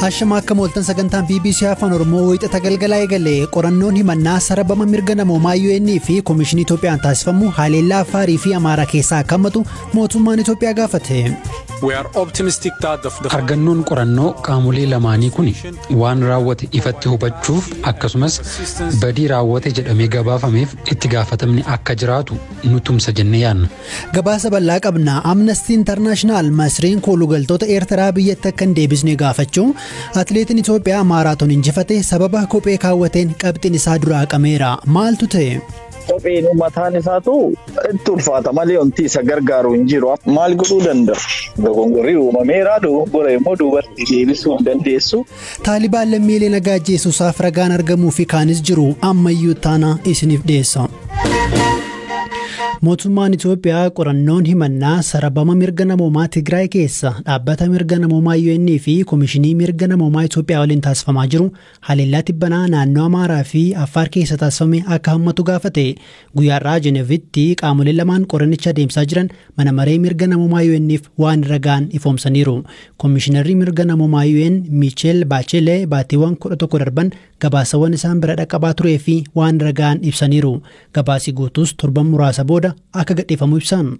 Ashama akka mooltan sagantaan BBC Afaan Oromoo wiixata galgalaa eegalee qorannoon himannaa sarabama mirga namoomaa UN fi Komishinii Itoophiyaan taasifamu haleellaa Afaarii fi Amaaraa keessaa akka hammatu mootummaan Itoophiyaa gaafate. Argannoon qorannoo qaamolee lamaanii kun waan raawwate ifatti hubachuuf akkasumas badii raawwate jedhamee gabaafameef itti gaafatamni akka jiraatu nu tumsa jennee yaadna. Gabaasa bal'aa qabna. Amnesty International Masriin koolugaltoota Eertiraa biyyatti akka hin deebisne gaafachuu atileetiin Itoophiyaa maaraatoon injifate sababa kophee kaawwateen qabxiin isaa duraa haqameera. Maaltu ta'e? Kopheenuu mataan isaatu itti ulfaata malee wanti isa gargaaru hin jiru. Maal godhuu danda'a? Dogongorri uumameera dogoggora immoo duubatti deebisuu hin dandeessu. Taalibaan lammiilee nagaa ajjeesuusaaf ragaan argamuu fi kaanis jiru ammayyuu taana isiniif dhiyeessa. Mootummaan Itoophiyaa qorannoon himannaa sarabama mirga namoomaa Tigraay keessa dhaabbata mirga namoomaa UN fi Komishinii mirga namoomaa Itoophiyaa waliin taasifamaa jiru Haleellaa tibbanaa naannoo Amaaraa fi Affaar keessa taasifame akka hammatu gaafate. Guyyaarraa Jenevitti qaamoleen lamaan qorannicha adeemsaa jiran mana maree mirga namoomaa UN'f waan irra ga'an ifoomsaniiru. Komishinarri mirga namoomaa UN Miicheel Baachelee baatiiwwan 11 darban gabaasawwan isaan bira dhaqqabaa turee fi waan irra ga'an ibsaniiru. Gabaasi guutuus torban muraasa booda akka gadhiifamu ibsan.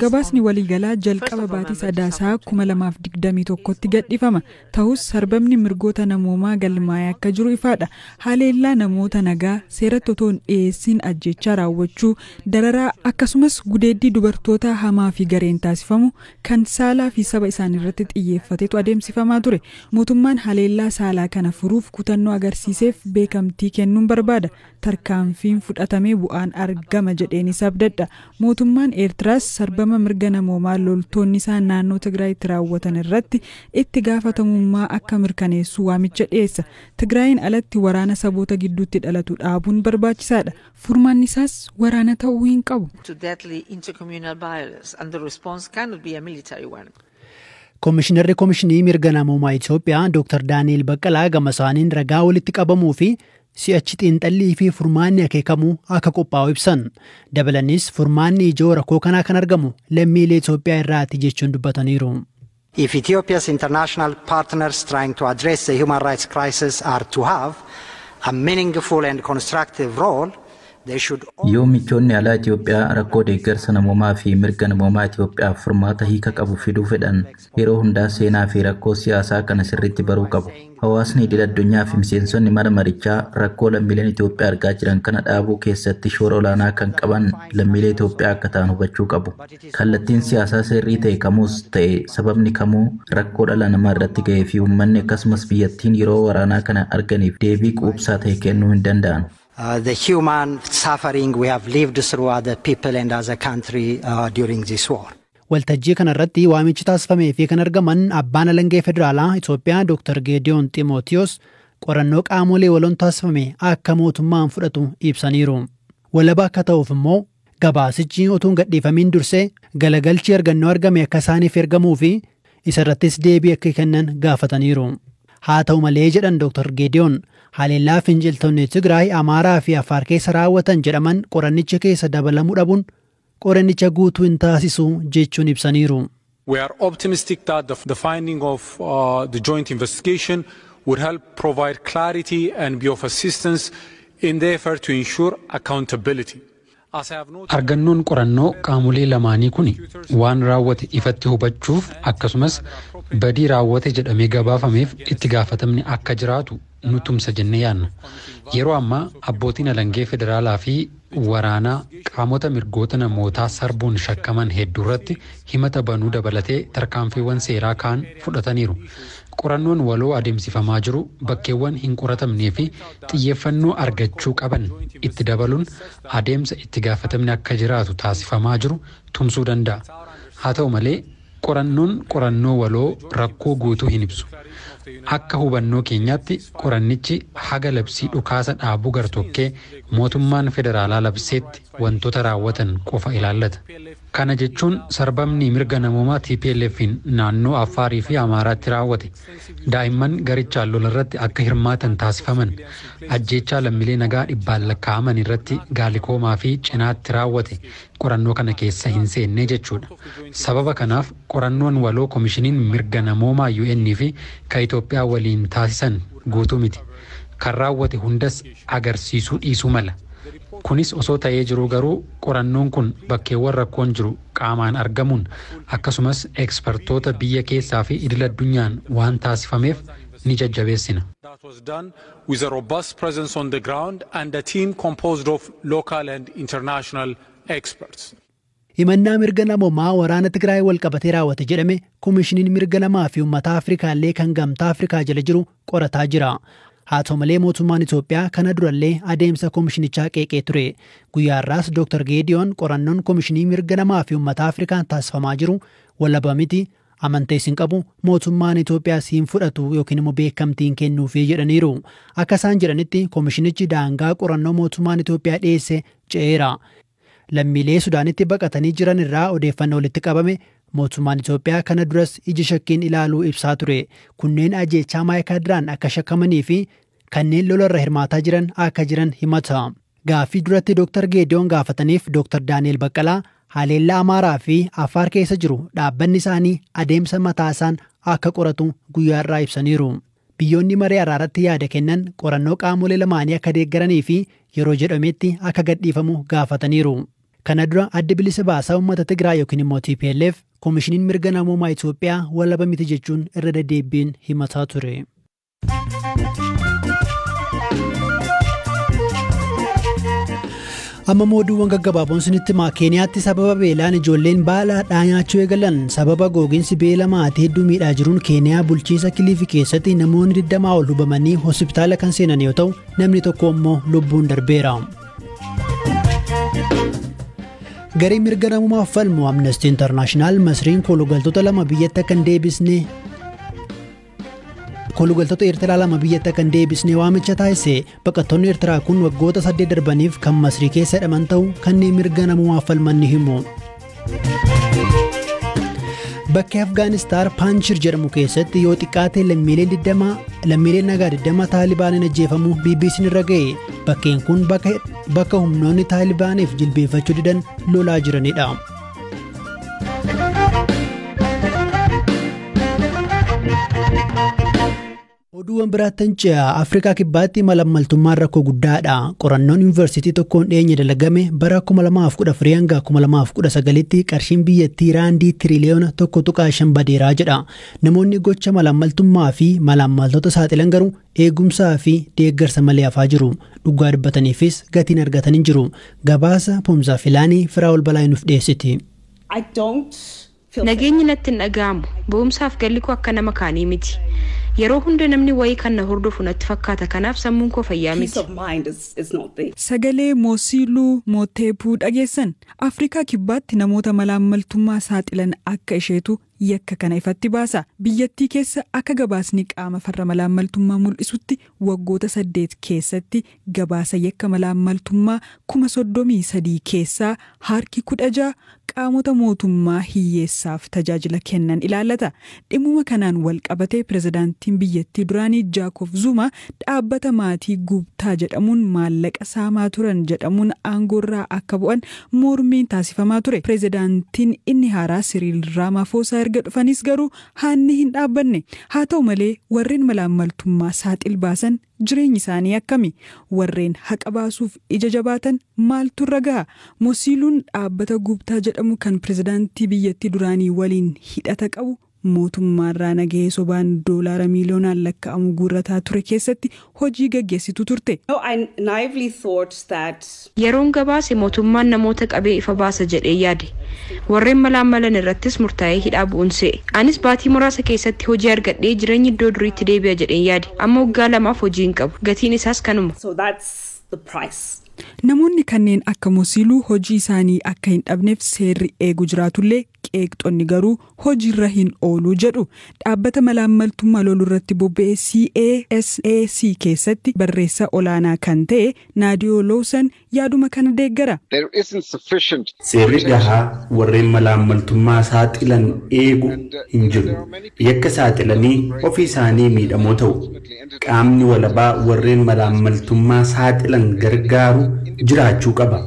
Gabaasni waliigalaa jalqaba baatii Sadaasaa 2021tti gadhifama. Tahus sarbamni mirgoota namoomaa galmaa'ee akka jiru ifaadha. Haleellaa namoota nagaa seeratti otoo hin dhiyeessiin ajjeechaa raawwachuu, dararaa akkasumas gudeeddii dubartootaa hamaa fi gareen taasifamu kan saalaa fi saba isaaniirratti xiyyeeffatetu adeemsifamaa ture. Mootummaan haleellaa saalaa kana furuuf kutannoo agarsiiseef beekamtii kennuun barbaada. tarkaanfiin fudhatamee bu'aan argama jedheenis abdadha. Mootummaan Eertiraas sarbama mirga namoomaa loltoonni isaa naannoo Tigraayitti raawwatan irratti itti gaafatamummaa akka mirkaneessu waamicha dhiyeessa. Tigraayiin alatti waraana saboota gidduutti dhalatu dhaabuun barbaachisaadha. Furmaanni isaas waraana ta'uu hin qabu. Komishinarri Komishinii Mirga Namoomaa Itoophiyaa Dr. Daani'el Baqqalaa gama isaaniin ragaa walitti qabamuu fi si'achi xiinxallii fi furmaanni akeekamu akka qophaa'u ibsan. Dabalanis furmaanni ijoo rakkoo kanaa kan argamu lammiilee Itoophiyaa irraati jechuun dubbataniiru. If Ethiopia's international partners trying to address the human rights crisis are to have a meaningful and constructive role, Yoo michoonni alaa Itoophiyaa rakkoo deeggarsa namoomaa fi mirga namoomaa Itoophiyaaf furmaata hiika qabu fiduu fedhan, yeroo hundaa seenaa fi rakkoo siyaasaa kana sirriitti baruu qabu. Hawaasni idil addunyaa fi miseensonni mana marichaa rakkoo lammiileen Itoophiyaa argaa jiran kana dhaabuu keessatti shoora olaanaa kan qaban lammiilee Itoophiyaa akka ta'an hubachuu qabu. Kallattiin siyaasaa sirrii ta'e kamuus ta'e sababni kamuu rakkoo dhala namaa irratti ga'ee fi uummanni akkasumas biyyattiin yeroo waraanaa kana arganiif deebii quubsaa ta'e kennuu hin danda'an. Uh, the human suffering we have lived through as a people and as a country uh, during this war. Waltajjii kanarratti waamichi taasifamee fi kan argaman abbaan alangee federaalaa Itoophiyaa Dr. Geediyoon Ximootiyoos qorannoo qaamolee waloon taasifame akka mootummaan fudhatu ibsaniiru. Walaba akka ta'uuf immoo gabaasichi otuu hin gadhiifamiin dursee galagalchi argannoo argame akka isaaniif ergamuu fi isa irrattis deebii akka kennan gaafataniiru. Haa ta'u malee jedhan Dooktar Geediyoon, haleellaa finciltoonni Tigraay, Amaaraa fi Affaar keessa raawwatan jedhaman qorannicha keessa dabalamuu dhabuun qorannicha guutuu hin taasisu jechuun ibsaniiru. We are optimistic that the, the finding of uh, the joint investigation would help provide clarity and be of assistance in the effort to ensure accountability. As I have noted, Argannoon qorannoo qaamolee lamaanii kun waan raawwate ifatti hubachuuf akkasumas badii raawwate jedhamee gabaafameef itti gaafatamni akka jiraatu nu tumsa jennee yaadna. Yeroo ammaa abbootiin alangee federaalaa fi waraanaa qaamota mirgoota namootaa sarbuun shakkaman hedduurratti himata banuu dabalatee tarkaanfiiwwan seeraa kaan fudhataniiru. Qorannoon waloo adeemsifamaa jiru bakkeewwan hin qoratamnee fi xiyyeeffannoo argachuu qaban itti dabaluun adeemsa itti gaafatamni akka jiraatu taasifamaa jiru tumsuu danda'a. Haa ta'u malee, Qorannoon qorannoo waloo rakkoo guutuu hin ibsu. Akka hubannoo keenyaatti qorannichi haga labsii dhukaasa dhaabuu gartokkee mootummaan federaalaa labseetti wantoota raawwatan qofa ilaallata. Kana jechuun sarbamni mirga namoomaa TPLFn naannoo Affaarii fi Amaaraatti raawwate, daa'imman garichaan lolarratti akka hirmaatan taasifaman, ajjeechaa lammilee nagaa dhibbaan lakkaa'aman irratti gaalikoomaa fi cinaatti raawwate qorannoo kana keessa hin seenne jechuudha. Sababa kanaaf qorannoon waloo Komishiniin Mirga Namoomaa UN fi ka Itoophiyaa waliin taasisan guutuu miti. Kan raawwate hundas agarsiisuu dhiisuu mala. Kunis osoo ta'ee jiruu garuu qorannoon kun bakkeewwan rakkoon jiru qaamaan argamuun akkasumas ekspertoota biyya keessaa fi idil-addunyaan waan taasifameef ni jajjabeessina. with a robust presence on the ground and a team composed of local and international experts. Himannaa mirga namoomaa waraana Tigraay walqabatee raawwate jedhame Komishiniin Mirga Namaa fi Uummataa Afrikaallee kan Gamtaa Afrikaa jala jiru qorataa jira. Haa ta'u malee mootummaan Itoophiyaa kana durallee adeemsa komishinichaa qeeqee ture. Guyyaa har'aas Dr. Geediyoon qorannoon Komishinii Mirga Namaa fi Uummataa Afrikaan taasifamaa jiru walaba miti, Amantees hin qabu, mootummaan Itoophiyaas hin fudhatu yookiin immoo beekamtii hin kennuufi jedhaniiru. Akka isaan jedhanitti komishinichi daangaa qorannoo mootummaan Itoophiyaa dhiyeesse ce'eera. Lammiilee Sudaanitti baqatanii jiran irraa odeeffannoo walitti qabame mootummaan Itoophiyaa kana duras ija shakkiin ilaaluu ibsaa ture. Kunneen ajeechaa Maayikaadiraan akka shakkamanii fi kanneen lola irra hirmaataa jiran akka jiran himata. Gaaffii duratti Dooktar Geediyoon gaafataniif Dooktar Daani'el Baqqalaa haleellaa Amaaraa fi Affaar keessa jiru dhaabbanni isaanii adeemsa mataa isaan akka qoratu guyyaa har'aa ibsaniiru. Biyyoonni maree araaratti yaada kennan qorannoo qaamolee lamaanii akka deeggaranii fi yeroo jedhametti akka gadhiifamu gaafataniiru. Kana dura Addi Bilisa Baasaa Uummata Tigraay yookiin immoo TPLF Komishiniin Mirga Namoomaa Itoophiyaa walaba miti jechuun irra deddeebbiin himataa ture. amma mooduuwwan gaggabaaboon sinitti himaa keeniyaatti sababa beelaan ijoolleen baala hadhaa nyaachuu eegalan sababa googinsi beela maatii hedduu miidhaa jiruun keeniyaa bulchiinsa kiliifi keessatti namoonni 20 ol hubamanii hospitaala kan seenan yoo ta'u namni tokko immoo lubbuun darbeera. garee mirga namummaaf falmu amnestii intarnaashinaal masriin kolugaltoota lama biyyatti akka hin deebisne Kolugaltoota Eertiraa lama biyyatti akka hin deebisne waamicha taasise baqattoonni Eertiraa kun waggoota saddeet darbaniif kan Masrii keessa hidhaman ta'u kanneen mirga namoomaaf falman ni himu. Bakki Afgaanistaan Paanchir jedhamu keessatti yoo xiqqaate lammiileen nagaa 20 Taalibaaniin ajjeefamu BBC'n irra ga'e. Bakkeen kun bakka humnoonni Taalibaaniif jilbeeffachuu didan lolaa jiranidha. Oduuwwan biraattan ce'a Afrikaa Kibbaatti malammaltummaan rakkoo guddaadha. Qorannoon yuunivarsiitii tokkoon dhiyeenya dalagame bara 2014 hanga 2019tti qarshiin biyyattii raandii tiriliyoona 1.5 badeeraa jedha. Namoonni gocha malammaltummaa fi malammaltoota saaxilan garuu eegumsaa fi deeggarsa malee hafaa jiru. Dhugaa dubbataniifis gatiin argatan hin jiru. Gabaasa Pomzaa Filaanii Firaa'ol Balaay nuuf dhiyeessiti. Nageenyi natti hin dhaga'amu. Ba'umsaaf galli koo akka nama kaanii miti. Yeroo hunda namni wayii kan na hordofu natti fakkaata kanaaf sammuun koo fayyaa miti. Sagalee Moosiiluu Mooteepuu dhageessan. Afrikaa Kibbaatti namoota malaammaltummaa saaxilan akka isheetu yakka kana ifatti baasa. Biyyattii keessa akka gabaasni qaama farra malaammaltummaa mul'isutti waggoota saddeet keessatti gabaasa yakka malaammaltummaa kuma 33 keessaa harki 16 qaamota mootummaa hiyyeessaaf tajaajila kennan ilaallata. Dhimmuma kanaan walqabatee pirezidaantiin biyyattii duraanii Jaakob Zuumaa dhaabbata maatii Guubtaa jedhamuun maallaqa saamaa turan jedhamuun aangoorraa akka bu'an Mormiin taasifamaa ture. Pirezidaantiin inni haaraa Siriil Raamaafoosaa erga dhufaniis garuu haanni hin dhaabbanne. Haa ta'u malee warreen malaammaltummaa saaxil baasan jireenyi isaanii akkami? Warreen haqa baasuuf ija jabaatan maaltu irra gaha? Mosiiluun dhaabbata Guuptaa jedhamu kan pirezidaantii biyyattii duraanii waliin hidhata qabu mootummaarraa nagahee sobaan doolaara miiliyoonaan lakka'amu guurrataa ture keessatti hojii gaggeessituu turte. Yeroon gabaase mootummaan namoota qabee ifa baasa jedhee yaade. Warreen malaammalan irrattis murtaa'ee hidhaa bu'uun se'e. Anis baatii muraasa keessatti hojii argadhee jireenyi iddoo duriitti deebi'a jedheen yaade. Amma waggaa lamaaf hojii hin qabu. Gatiin isaas kanuma. Namoonni kanneen akka Mosiiluu hojii isaanii akka hin dhabneef seerri eegu jiraatullee, Qeeqxonni garuu hojiirra hin oolu jedhu. Dhaabbata malaammaltummaa lolurratti bobba'e CASAC keessatti barreessaa olaanaa kan ta'e Naadiyoo Lowsan yaaduma kana deeggara. Seerri gahaa warreen malaammaltummaa saaxilan eegu hin jiru. Yakka saaxilanii ofii isaanii miidhamoo ta'u. Qaamni walabaa warreen malaammaltummaa saaxilan gargaaru jiraachuu qaba.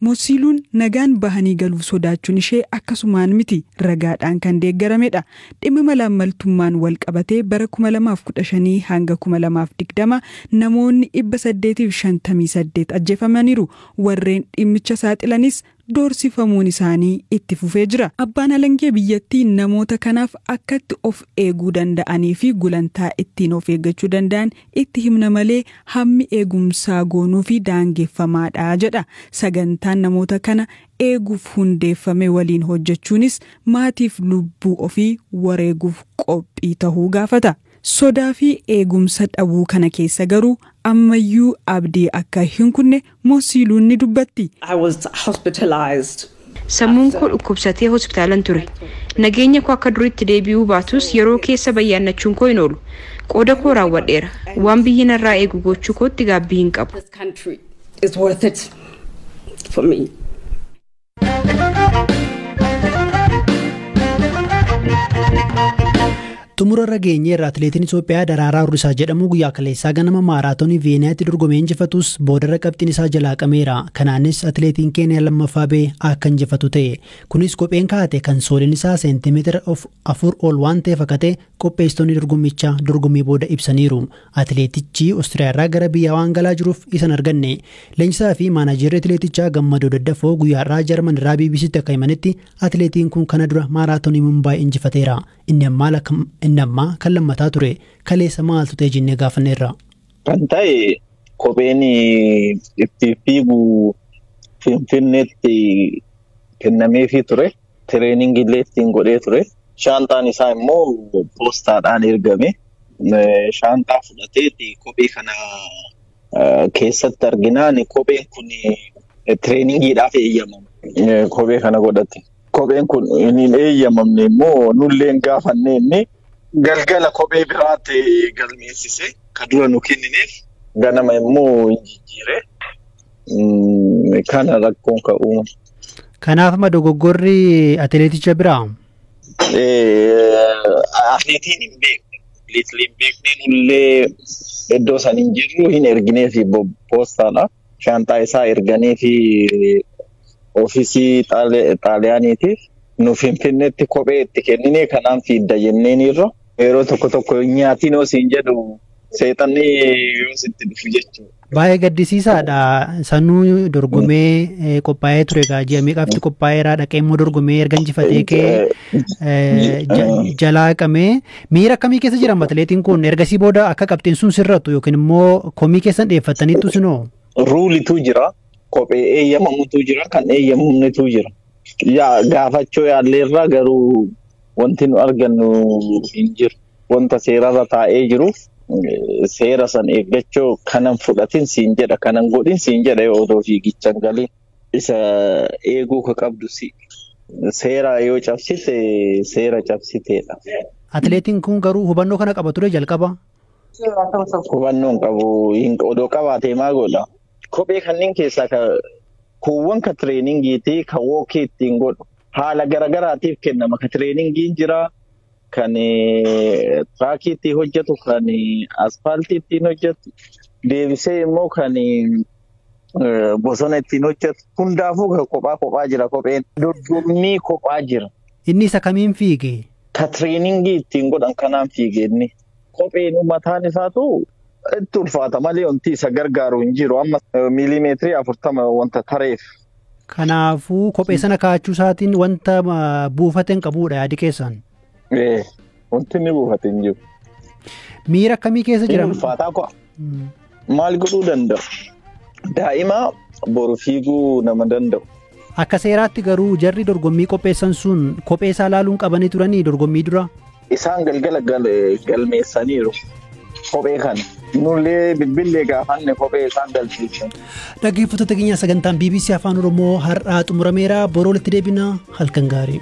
Mosiiluun nagaan bahanii galuuf sodaachuun ishee akkasumaan miti, ragaadhaan kan deeggaramedha. Dhimma malaammaltummaan wal qabatee bara 2015 hanga 2020 namoonni 858 ajjeefamaniiru. Warreen dhimmicha saaxilanis doorsifamuun isaanii itti fufee jira. Abbaan alangee biyyattii namoota kanaaf akkatti of eeguu danda'anii fi gulantaa ittiin of eeggachuu danda'an Itti himna malee hammi eegumsaa goonuufi daangeffamaadha jedha. Sagantaan namoota kana eeguuf hundeeffame waliin hojjechuunis maatiif lubbuu ofii wareeguuf qophii tahuu gaafata. Sodaafi eegumsa dhabuu kana keessa garuu ammayyuu abdii akka hin kunne Moo siiluun ni dubbatti? I was hospitalized. Sammuun koo dhukkubsatee hospitaalan ture. Nageenya koo akka duriitti deebi'uu baatus yeroo keessa bayyaannachuun koo hin oolu. Qooda koo raawwadheera. Waan biyyi narraa eegu goochuu kootti gaabbii hin qabu. This country is worth it for me. Xumura irra geenyeerra atileetiin Itoophiyaa Daraaraa Hurrisaa jedhamu guyyaa kaleessaa ganama maaraatoonii Viyeeniyaatti dorgomee injifatus boodarra qabxiin isaa jalaa qameera. Kanaanis atileetiin Keeniyaa lammaffaa ba'e akka injifatu ta'e. Kunis kopheen kaa'ate kan sooliin isaa seentimeetira afur ol waan ta'eef akka ta'e qopheessitoonni dorgommichaa dorgommii booda ibsaniiru. Atileetichi Ostiriyaarraa gara biyya waan galaa jiruuf isa hin arganne. Leenjisaa fi maanaajeerri atileetichaa Gammadoo Daddafoo guyyaa har'aa Jarman irraa BBCtti akka himanitti atileetiin kun kana dura maaraatonii Mumbaay injifateera. Inni ammaa lakka- inni ammaa kan lammataa ture. Kaleessa maaltu ta'e jennee gaafanneerra. Kan ta'e kopheen ittiin fiigu Finfinneetti kennameefii ture. Tireeningii illee ittiin godhee ture. Shaanxaan isaa immoo poostaadhaan ergame. Shaanxaa fudhatee kophee kana keessatti arginaan kopheen kun tireeningiidhaaf eeyyamama. Kophee kana godhate. Kopheen kun hin eeyyamamne immoo nullee hin gaafanne inni galgala kophee biraatti galmeessise kan dura nu kennineef ganama immoo hin jijjiire. Mm, Kana rakkoon ka uuma. Kanaaf ma dogoggorri atileeticha biraa? Atileetiin hin beekne. Atileetiin hin beekne nullee iddoo san hin jirru hin erginee fi poostaadha. Shaanxaa isaa erganii fi ofiisii Xaali- xaaliyaaniitiif nu finfinneetti kophee itti kennine kanaan fiidda jenneen irra yeroo tokko tokko nyaatiin yoo siin jedhu seexanni yoo sitti dhufu jechuudha. Baay'ee gaddisiisaadha. Sanuu dorgomee qophaa'ee ture egaa ji'a meeqaafti qophaa'eera dhaqee immoo dorgomee erga injifatee kee jalaa haqamee miira akkamii keessa jira atileetiin kun ergasii booda akka qabxiin sun sirrattu yookiin immoo komii keessan dhiyeeffattaniittu sinoo. Ruulitu jira kophee eeyyamamutu jira kan eeyyamamnetu jira. Yaa gaafachuu yaalleerra garuu Wanti nu argannu hin jiru. Wanta seerarra taa'ee jiruuf seera san eeggachuu kanan fudhatin siin jedha kanan godhin siin jedha yoo odoo fiigicha hin galin. Isa eeguu ka qabdu si. Seera yoo cabsite seera cabsiteedha. Atileetiin kun garuu hubannoo kana qaba ture jalqaba. Hubannoo hin qabu. Hin- Odoo qabaatee maa godha? Kophee kanneen keessaa ka kuuwwan ka tireeningiitii ka wookii ittiin godhu. Haala garagaraatiif kennama. Kan tireeningiin jira, kan tiraakii ittiin hojjetu, kan aspaaltii ittiin hojjetu, deebisee immoo kan bosona ittiin hojjetu. Hundaafuu kan kophaa kophaa jira kopheen. Dorgommii kophaa jira. Inni isa kamiin fiige? Ka tireeningii ittiin godhan kanaan fiige inni. Kopheen mataan isaatu itti ulfaata malee wanti isa gargaaru hin jiru. Amma miiliimeetirii afurtama wanta tareef. Kanaafuu kophee sana kaa'achuu isaatiin wanta ah, buufate hin qabuudha yaadi keessaan. Ee, wanti inni buufate hin jiru. Miira akkamii keessa Inni jira? ulfaataa ku'a. Mm. Maal godhuu danda'u? Daa'ima boru fiiguu nama danda'u. Akka seeraatti garuu jarri dorgommii qopheessan sun kophee isaa laaluun qabanii turanii dorgommii dura. Isaan galgala galmeessaniiru kophee kana. Nullee bilbillee gaafanne kophee isaan galchiise. Dhaggeeffattoota keenya sagantaan BBC Afaan Oromoo har'aa xumurameera. Boroo walitti deebina halkan gaarii.